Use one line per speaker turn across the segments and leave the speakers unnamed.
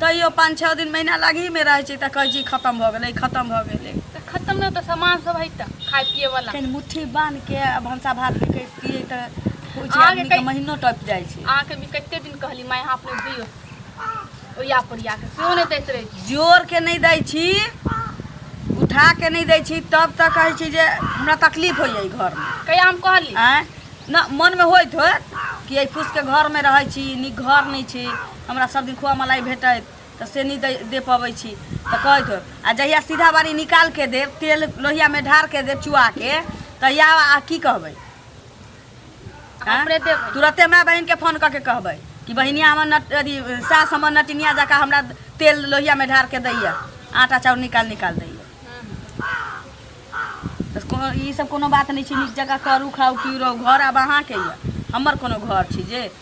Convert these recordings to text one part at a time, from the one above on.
तैयो पाँच छओ
दिन महीना लगहीमे रहै छै तऽ कहै छी खतम भऽ गेलै खतम भऽ गेलै तऽ खतम नहि तऽ
सामान सब है तऽ खाय पिए वाला कनि मुट्ठी बान्ह के
आ भनसा भात भी करितियै तऽ होइ छै अहाँके आदमी के कै- महीनो टपि
जाइ
छै अहाँके भी कते दिन
कहली माय यहाँ अपने दियो ओया पोरिया के सेहो नहि दैत रहै
छी जोर के नहि दै छी उठा के नहि दै छी तब तऽ कहै छी जे हमरा तकलीफ होइ जाइ घरमे कहिया हम कहली आँय
न मनमे
होइत होत कि एहि फूसके घरमे रहै छी नीक घर नहि छै हमरा सब दिन खोआ मलाई भेटैत तऽ से नहि दे दे पबै छी तऽ कहैत होयब आ जहिया सीधा बारी निकाल के देब तेल लोहिया में ढार के देब चुआ के तहिया आ की कहबै
हाँ? अपने देबै। तुरते माय बहन के फोन
कऽ के कहबै कि बहिनिया हमर नट अथी सास हमर नटिनिया जकाँ हमरा तेल लोहिया में ढार के दैया आटा चाउर निकाल निकाल दैया तऽ कोनो ई सब कोनो बात नहि छै नीक जकाँ करू खाउ पीउ रहू घर आब अहाँके यऽ हमर कोनो घर छै जे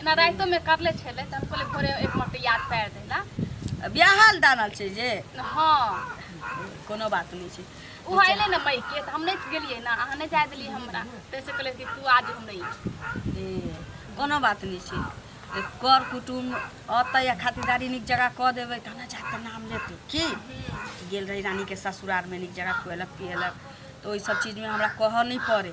एना रातिओमे करले छलै तऽ हम कहलियै भोरे एक मत याद पारि दै लए ब्याहल
दानल छै जे हँ
कोनो
बात नहि छै ओ अयलै ने मइके
तऽ हम नहि गेलियै ने अहाँ नहि जाय देलियै
हमरा ताहिसँ कहलियै कि तू आज हम नहि ए, कोनो बात नहि छै ए, कर कुटुम अतै आ खातिरदारी नीक जगह कऽ देबै तब ने जाके नाम लेतै की गेल रही रानीके ससुरारमे नीक जगह खुएलक पिएलक तऽ ओहि सब चीजमे हमरा कहऽ नहि पड़ै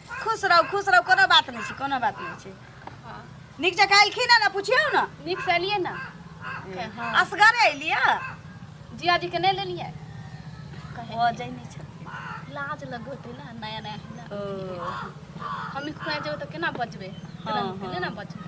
खुश रहू खुश रहू कोनो बात नहि छै कोनो बात नहि छै नीक
जकाँ एलखिन
ने पुछियौ ने नीक से एलियै ने
असगरे एलियै
जिया जी
के नहि लेलियै ओ
जाइ नहि छै लाज लगोतै
ने नया नया
हमही
खुआ जेबै तऽ केना बचबै केना
बचबै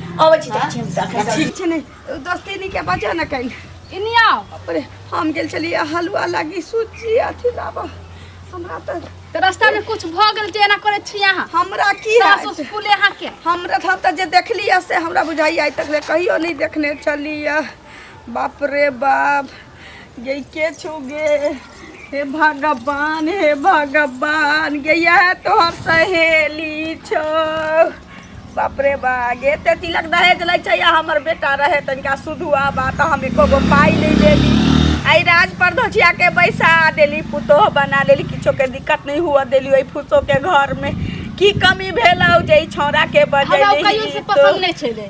अबै छी जाइ छी हम देखै छी ठीक छै ने
दोस्ती
नी के बजा न कहीं इन्हीं आओ अरे
हम
गेल छलिए हलवा लागी सूजी अथी लाबऽ हमरा तऽ तो रास्ता
में कुछ भ गेल जे एना करे छी यहाँ हमरा की सास हैत?
उस फूले यहाँ के
हमरा हम तऽ जे
देखलिए से हमरा बुझाइए आइ तक ले कहियो नहि देखने छलिए बाप रे बाप गई के छो गे हे भगवान हे भगवान गैया है तोहर सहेली छो बाप रे बा गे ते तिलक दहेज लै छै या हमर बेटा रहे तनिका सुधुआ बा तऽ हम एको गो पाइ नहि देली आइ राज पर धोछिया के बैसा देली पुतोह बना लेली किछो के दिक्कत नहि हुअ देली ओहि फुसो के घर में की कमी भेलौ जे ई छौड़ा के हमरा ओ कहियो से पसंद बजेली
नहि छलै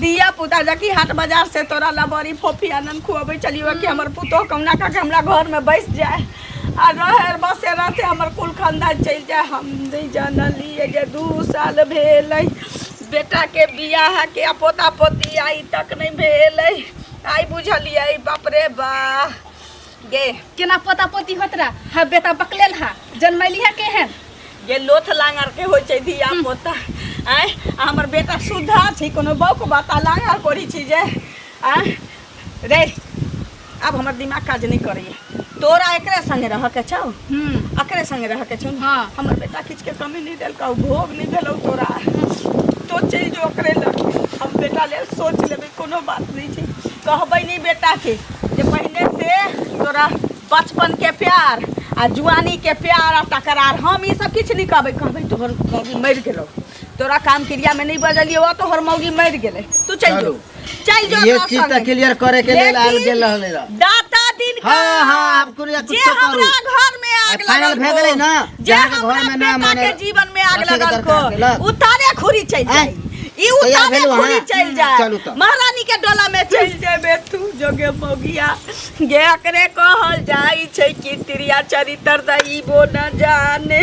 धिया पुता जकि हाट बाजार से तोरा ला बड़ी फोफी आनंद खुआबै चलियो कि हमर पुतोह कहुना कऽ के हमरा घर में बैस जाए आ रहे बसे रहते हमर कुल खानदान चलि जाए हम नहीं जानलिए जे दू साल भेलै बेटा के बियाह के आ पोता पोती आई तक नहीं भेलै आई बुझलिए बाप रे बा गे केना पोता
पोती होत रहा हा बेटा बकलेल हा जन्मैली हा केहन गे लोथ
लांगर के होइ छै धिया पोता आय आ हमर बेटा सुधा छै कोनो बौक बाता लांगर करै छी जे आय रे आब हमर दिमाग काज नहि करैए तोरा एकरे संगे रह के छौ हम्म एकरे संगे रह के छौ हाँ। हमर बेटा किछु के
कमी
नहि देलकौ भोग नहि भेलौ तोरा तो चलि जो ओकरे लग हम बेटा लेल सोच लेबै कोनो बात नहि छै कहबै नहि बेटा के जे पहिने से तोरा बचपन के प्यार आ जुआनी के प्यार आ तकरार हम ई सब किछु नहीं कहबै कहबै तोहर मौगी मरि गेलो तोरा काम क्रिया में नहीं बजलियो आ तोहर मौगी मरि गेलै तू चल जो चल जो ये चीज
तो क्लियर करे के लिए आयल गेल रहले रह दाता दिन का
हां हां आप कुरिया कुछ
तो करू घर
में आग लगल फाइनल भे गेलै ना
जे हमरा घर में
ना माने
जीवन
में
आग लगल
को
उतारे खुरी
चल
जाई
ई तैयार उतारे भेलहुँ खुली अहाँ? चलि जाए
चलू
तऽ। महारानी के
डोला में
चलि जेबे तू जोगे मोगिया गे एकरे कहल जाइ छै कि त्रिया चरित्र दैबो न जाने